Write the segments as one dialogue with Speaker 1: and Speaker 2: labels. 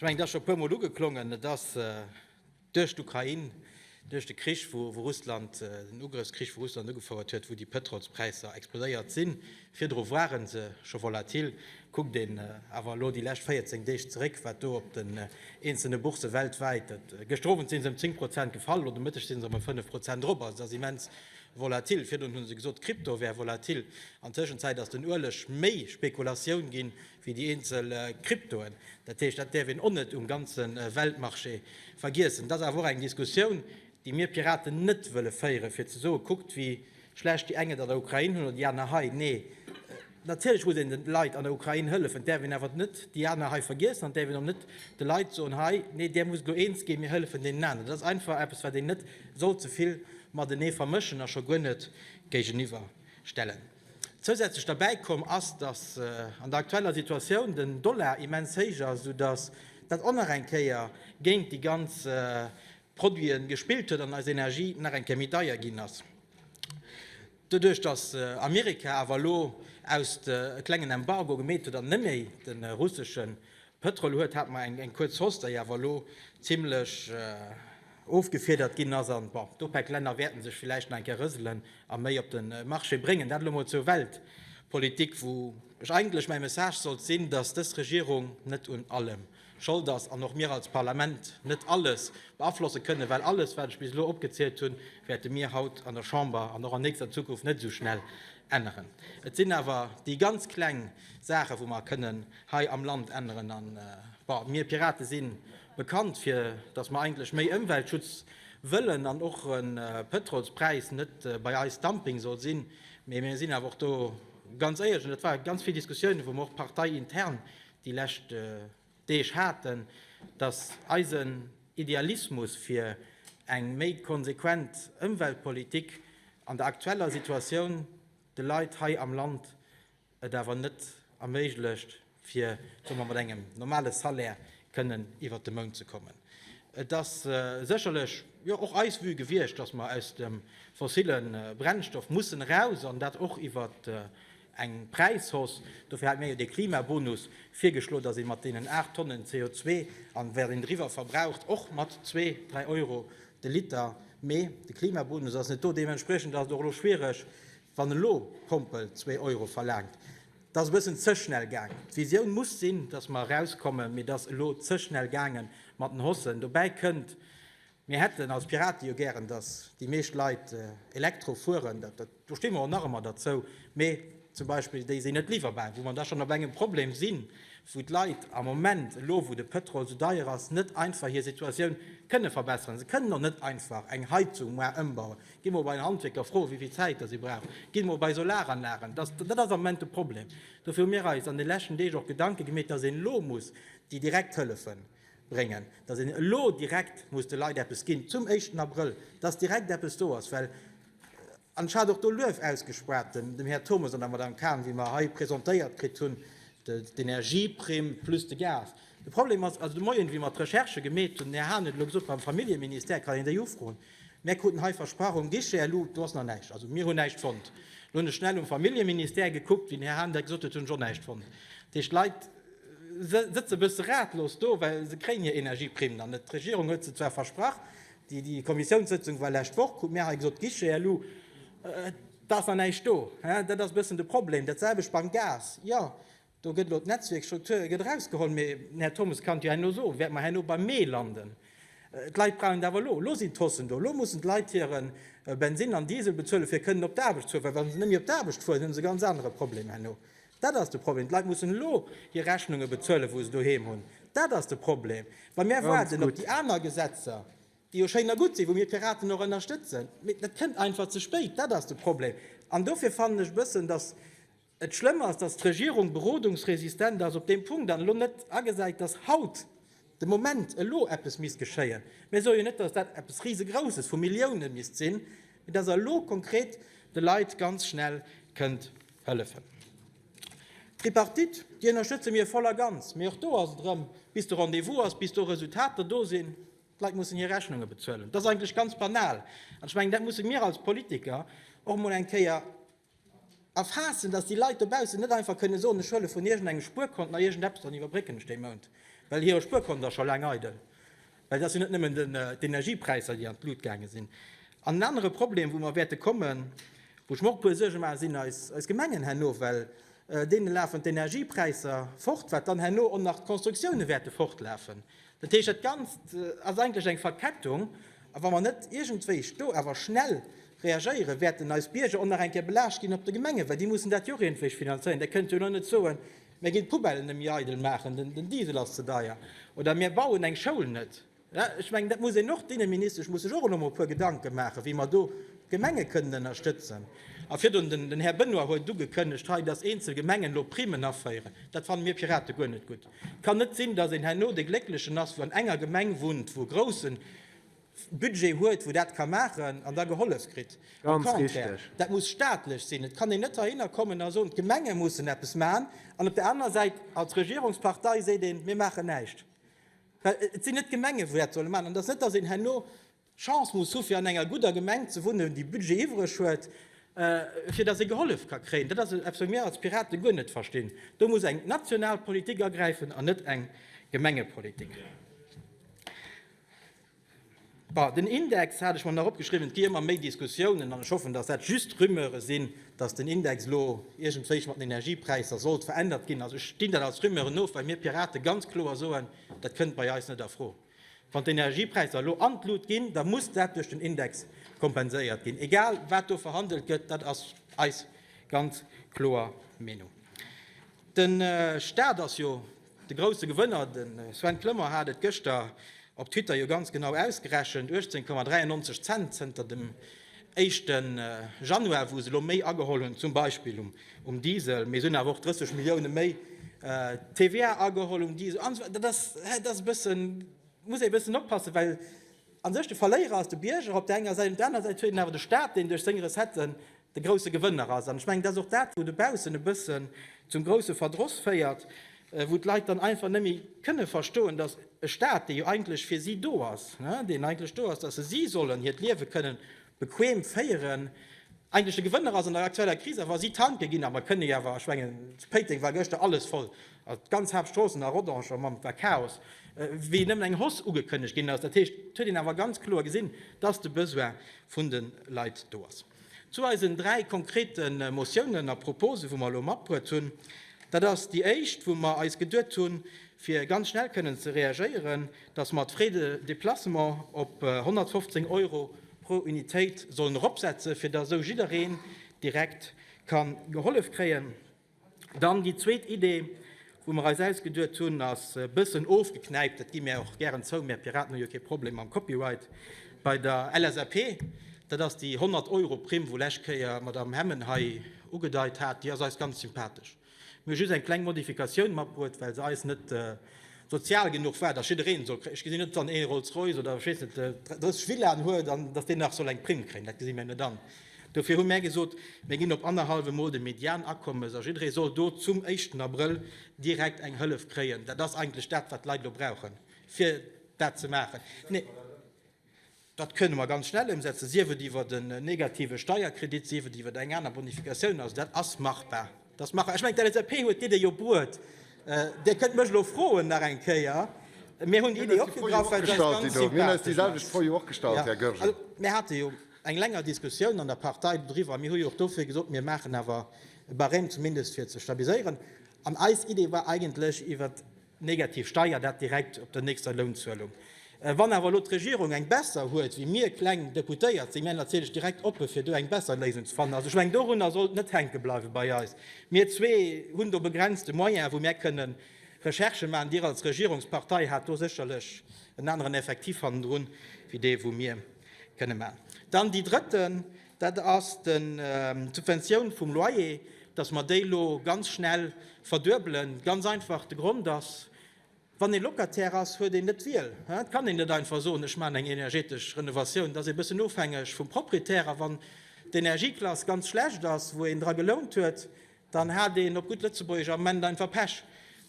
Speaker 1: Ech mengen, et ass scho e puermol ugeklongen, et ass duerch d'Ukrain, duerch de Krich, wou Russland, den Ugrëffskrich, wou Russland ugefouert huet, wou déi Pëtrolspräisser explodéiert sinn. Virdru ware se scho volatil. Kuckt een awer elo déi lescht 14 Deeg zeréck, wat do op den eenzelne Boursse weltwäit, gëschter Owend si se ëm 10 Prozent gefall, elo de Mëtteg si se erëm 5 Prozent drop, also et ass immens volatil. Virdrun hu se gesot, d'Krypto wär volatil. An Tëschenzäit ass den Ueleg méi Spekulatioun ginn, wéi déi eenzel Kryptoen. Dat heescht, dat däerf een och net um ganze Weltmarché vergiessen. Et ass awer och eng Diskussioun, déi mir Piraten net wëlle féieren, fir ze soen, kuckt wéi schlecht déi eng et an der Ukrain hunn oder déi aner hei. Nee, natierlech muss een de Leit an der Ukrain hëllefen. Et däerf een awer net déi aner hei vergiessen an et däerf een och net de Leit soen, hei, nee, där musst elo eens ginn, mir hëllefen deenen aneren. Dat ass einfach eppes, wat een net sollt ze vill matenee vermëschen a scho guer net géigeniwwer stellen. Zousätzlech derbäi komm ass, datt an der aktueller Situatioun den Dollar immens héich ass, sou datt dat och nach eng Kéier géint déi ganz Produiten gespillt huet an eis Energie nach eng Kéier méi deier ginn ass. Doduerch datt Amerika awer elo aus e klengen Embargo gemeet huet an net méi de russeschen Pëtrol huet, hat mer eng kuerz Hoss, déi awer elo zimlech ofgefiedert ginn ass. An bon, d'OPEC-Länner wäerten sech villäicht nach eng Kéier rëselen a méi op de Marché bréngen. Dat elo mol zur Weltpolitik, wou ech eigentlech mäi Message sollt sinn, dass dës Regierung net un allem Schold ass an och mir als Parlament net alles beaflosse kënnen, well alles, wat ech bis elo opgezielt hunn, wäerte mir haut an der Chamber an och an nächster Zukunft net esou schnell änneren. Et sinn awer déi ganz kleng Saachen, wou mer kënnen, hei am Land änneren an bon, mir Piraten si bekannt fir dass mer eigentlech méi Ëmweltschutz wëllen an och e Pëtrolspräis net bei eis Dumping soll sinn, mee mir sinn awer och do ganz éierlech an dat ware ganz vill Diskussiounen, wou mer och parteiintern déi lescht Deeg haten, dass eisen Idealismus fir eng méi konsequent Ëmweltpolitik an der aktueller Situatioun de Leit hei am Land, et awer net erméiglecht, fir somme mat engem normale Salaire kënnen iwwert de Mount ze kommen. Et ass sécherlech jo och eis Vue gewiescht, dass mer aus dem fossille Brennstoff mussen eraus an dat och iwwert eng Präishausse. Dofir hate mir jo dee Klimabonus virgeschloe, dass ee mat deenen aacht Tonnen CO2, an wat een driwwer verbraucht, och mat zwee, dräi Euro de Liter, mee de Klimabonus ass net do. Deementspriechend ass et och elo schwiereg, Wann elo Pompel zwee Euro verlaangt, dat ass e bëssen ze schnell gaang. D'Visioun muss sinn, datt mer erauskommen, mee et ass elo ze schnell gaange mat den Hossen. Dobäi kënnt, mir hätten als Piraten jo gären, datt déi meescht Leit Elektro fueren. Do sti mer och nach ëmmer derzou. Mee zum Beispill déi sinn net liwwerbar, wou mer da schonn op engem Problem sinn, wou d'Leit am Moment, elo wou de Pëtrol esou deier ass, net einfach hir Situatioun kënne verbesseren. Se kënnen och net einfach eng Heizung ëmbauen. Gi mer bei den Handwierker froen, wéi vill Zäit si brauchen. Gi mer bei Solaranlagen. Dat ass am Moment de Problem. Dofir hu mir eis an de leschten Deeg och Gedanke gemeet, dass een elo muss déi direkt Hëllefe bréngen, dass een elo direkt muss de Leit eppes ginn zum éischten Abrëll, dass direkt eppes do ass. Well, an ech hat och do Luef ausgesprach dem Här Turmes an der Madame Cahen, wéi mer hei presentéiert kritt hunn d'Energieprime plus de Gas. De Problem ass, also de Moien, wéi mer d'Recherche gemeet hunn, mir haten et elo gesot, beim Familljeministère kann een déi ufroen, Mir kruten hei versprach um Guichet, elo do ass nach näischt. Also mir hunn näischt fonnt. Elo hunn ech schnell um Familljeministère gekuckt, wéi den Här Hahnendeck gesot huet, hunn ech och näischt fonnt. Dat heescht, d'Leit sëtze e bësse ratlos do, well se kréien hir Energieprimen an net. D'Regierung huet se zwar versprach, déi Kommissiounssëtzung war lescht Woch, krute mir hei gesot, Guichet, elo do ass nach näischt do. Dat ass e bëssen de Problem. Dat selwecht beim Gas. Jo, Do gëtt elo d'Netzwierksstruktur gëtt erausgeholl, mee den Här Turmes kann jo herno soen, wäerte mer herno beim Mee landen. D'Leit brauchen et awer elo, elo sinn d'Hossen do, elo mussen d'Leit hire Bensinn an Diesel bezuelen, fir kënnen op d'Aarbecht fueren, well wa se net méi op d'Aarbecht fueren, hu se e ganz anere Problem herno. Dat ass de Problem. D'Leit mussen elo hir Rechnunge bezuelen, wou se doheem hunn. Dat ass de Problem. Wa mir waarden op déi aner Gesetzer, déi jo schéin a gutt sinn, wou mir Piraten och ënnerstëtzen, mee dat kënnt einfach ze spéit. Dat ass de Problem. An dofir fannen ech e bëssen, dass, Et schlëmm ass, datt d'Regierung berodungsresistent ass op deem Punkt an elo net agesäit, datt haut de Moment, elo eppes misst geschéien. Mir soe jo net, datt dat eppes Risegrousses vu Milliounen misst sinn, mee datt Der elo konkret de Leit ganz schnell kënnt hëllefen. D'Tripartite, déi ënnerstëtze mir voll a ganz, mee och do ass et erëm, bis de Rendez-vous ass, bis do Resultater do sinn, d'Leit mussen hir Rechnunge bezuelen. Dat ass eigentlech ganz banal an ech mengen, dat musse mir als Politiker och emol eng Kéier Erfaassen, dass déi Leit dobaussen net einfach kënne soen, ech huele vun iergendengem Spuerkont nach iergendeppes an iwwerbrécken ech dee Mount, well hire Spuerkont ass scho laang eidel. Well et ass jo net nëmmen d'Energiepräisser, déi an d'Lut gaange sinn. An en anere Problem, wou mer wäerte kommen, wou ech mer och e puer Suerge maachen, sinn eis Gemengen herno, well deene lafen d'Energiepräisser fort, wat dann herno och nach d'Constructione wäerte fortlafen. Dat heescht, dat Ganzt ass eigentlech eng Verkettung, a wa mer net iergendwéi do awer schnell reagéieren, wäerten eis Bierger och nach eng Kéier belaascht ginn op de Gemengen, well déi mussen dat jo och iergendwéi finanzéieren. Där kënnt jo elo net soen, Mir ginn d'Poubellen net méi eidel maachen, den Diesel ass ze deier oder mir bauen eng Schoul net. Ech mengen, dat muss een och, d'Inneministesch muss sech och elo mol e puer Gedanke maachen, wéi mer do d'Gemenge kënnen ënnerstëtzen. A virdrun, den Här Benoy huet ugekënnegt hei, dass eenzel Gemengen elo Primen aféieren. Dat fanne mir Pirate guer net gutt. Et kann net sinn, datt een herno de Glécklechen ass, wou an enger Gemeng wunnt, wou e grousse Budget huet, wou dat ka maachen an da gehollef kritt. Au contraire,
Speaker 2: dat muss staatlech
Speaker 1: sinn. Et kann een net heihinner kommen a soen, d'Gemenge mussen eppes maachen an op der anerer Säit als Regierungspartei seet een, mir maachen näischt. Well et sinn net d'Gemenge, wou dat solle maachen. An et ass net, datt een herno Chance muss hu fir an enger gudder Gemeng ze wunnen, déi Budget iwwreg huet, fir datt ee gehollef ka kréien. Dat ass eppes, wat mir als Piraten guer net verstinn. Do muss eng national Politik agräifen an net eng Gemengepolitik. Bon, den Index hat ech mer nach opgeschriwwen. Et gi ëmmer méi Diskussiounen, an ech hoffen, datt dat just Rumeure sinn, datt den Index elo iergendwéi mat den Energiepräisser sollt verännert ginn. Also ech zinn dat als Rumeure no, well mir Piraten ganz kloer soen, dat kënnt bei eis net a Fro. Wann d'Energiepräisser elo an d'Lut ginn, da muss dat duerch den Index kompenséiert ginn, egal wat do verhandelt gëtt. Dat ass eis ganz kloer Meenung. De Staat ass jo de grousse Gewënner. De Sven Kloemer hat et gëschter op Twitter jo ganz genau ausgerechent, 18,93 Cent zënter dem éischte Januar, wou se elo méi ageholl hunn, zum Beispill um Diesel, mee se hunn awer och 30 Millioune méi TVA ageholl um Diesel an esou weider. Dat ass e bësse, muss ee e bëssen oppassen, well a sech de Verléierer ass de Bierger op der enger Säit, op der anerer Säit huet een awer de Staat, deen duerch seng Recetten de grousse Gewënner ass. An ech mengen, dat ass och dat, wou dobaussen e bëssen zum grousse Verdross féiert, wou d'Leit dann einfach net méi kënne verstoen, dass e Staat, dee jo eigentlech fir si do ass, deen eigentlech do ass, dass se si sollen hiert Liewe kënne bequem féieren, eigentlech de Gewënner ass an der aktueller Kris. Awer si tanke ginn. A mer kënne jo awer, ech mengen, zu Péiteng war gëschter alles voll, d'ganz Haaptstroossen a Rodange mam, war Chaos, wéi nëmmen eng Hoss ugekënnegt ginn ass. Dat heescht, et huet een awer ganz kloer gesinn, dass de Besoin vun de Leit do ass. Zu eisen dräi konkrete Motiounen a Proposen, wou mer elo matbruet hunn, dat ass déi éischt, wou mer eis geduet hunn, fir ganz schnell kënnen ze reagéieren, dass mer d'Frais de déplacement op 115 Euro pro Unitéit sollen eropsetzen, fir dass esou jiddereen direkt ka gehollef kréien. Dann déi zweet Idee, wou mer eis ausgeduet hunn, ass e bëssen ofgeknäipt, dat gi mir och gären zou, mir Piraten hu jo kee Problem mam Copyright bei der LSAP, dat ass déi 100 Euro Primm, wou lescht Kéier d'Madame Hemmen hei ugedeit hat, déi ass eis ganz sympathesch. Mir hu just eng kleng Modifikatioun matbruet, well se eis net sozial genuch war, dass jiddereen soll kréien. Ech gesinn net, dass wann ee Rolls-Royce oder ech weess net 30 Villaen huet, dass deen nach soll eng Primm kréien, dat gesi mir net an. Dofir hu mär gesot, mir ginn op annerhallef emol de Medianakommes a jidderee soll do zum éischten Abrëll direkt eng Hëllef kréien. Dat ass eigentlech dat, wat d'Leit elo brauchen, fir dat ze maachen. Dat kënne mer ganz schnell ëmsetzen, sief et iwwer en negative Steierkredit, sief et iwwer eng aner Bonificatioun. Also dat ass machbar. Dass maachen. Ech mengen, d'LSAP huet d'Idee jo bruet. Dir kënnt mech elo froen nach eng Kéier. Mir hunn déi Idee opgegraff, well se eis ganz sympathesch ass. Mir hate jo eng länger Diskussioun an der Partei doriwwer a mir hu jo och dofir gesot, mir maachen awer e Barème zumindest fir ze stabiliséieren. An eis Idee war eigentlech iwwert Negativ Steier, dat direkt op der nächster Lounzuelung. Wann awer elo d'Regierung eng besser huet wéi mir kleng Deputéiert, si mir natierlech direkt oppe fir do eng besser Léisung ze fannen. Also ech mengen dorunner sollt net hänke bleiwe bei eis. Mir zwee hunn do begrenzte Moyene wou mir kënnen Recherche maachen. Dir als Regierungspartei hat do sécherlech en aneren Effektiv hannendrun wéi dee wou mir kënne maachen. Dann déi drëtten. Dat ass d'Subventioun vum Loyer, dass mer déi elo ganz schnell verduebelen. Ganz einfach, de Grond ass, Wann ee Locataire ass, huet een net d'Wiel. Et kann een net einfach soen, ech maachen eng energetesch Renovatioun. Et ass ee bëssen ofhängeg vum Proprietär. A wann d'Energieklass ganz schlecht ass, wou een dra gelount huet, Dann hat een, op gutt Lëtzebuergesch, am Ament einfach Pech.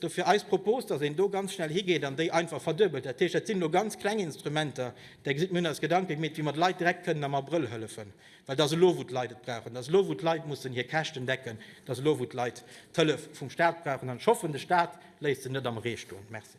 Speaker 1: Dofir eis Propos, dass een do ganz schnell higeet an déi einfach verduebelt. Dat heescht, dat sinn elo ganz kleng Instrumenter, där gesitt, mir hunn eis Gedanke gemeet, wéi mer de Leit direkt kënnen am Abrëll hëllefen, well dat ass elo, wou d'Leit et brauchen. Dat ass elo, wou d'Leit mussen hir Käschten decken. Dat ass elo, wou d'Leit d'Hëllef vum Stat brauchen. An ech hoffen, de Stat léisst se net am Ree stoen. Merci.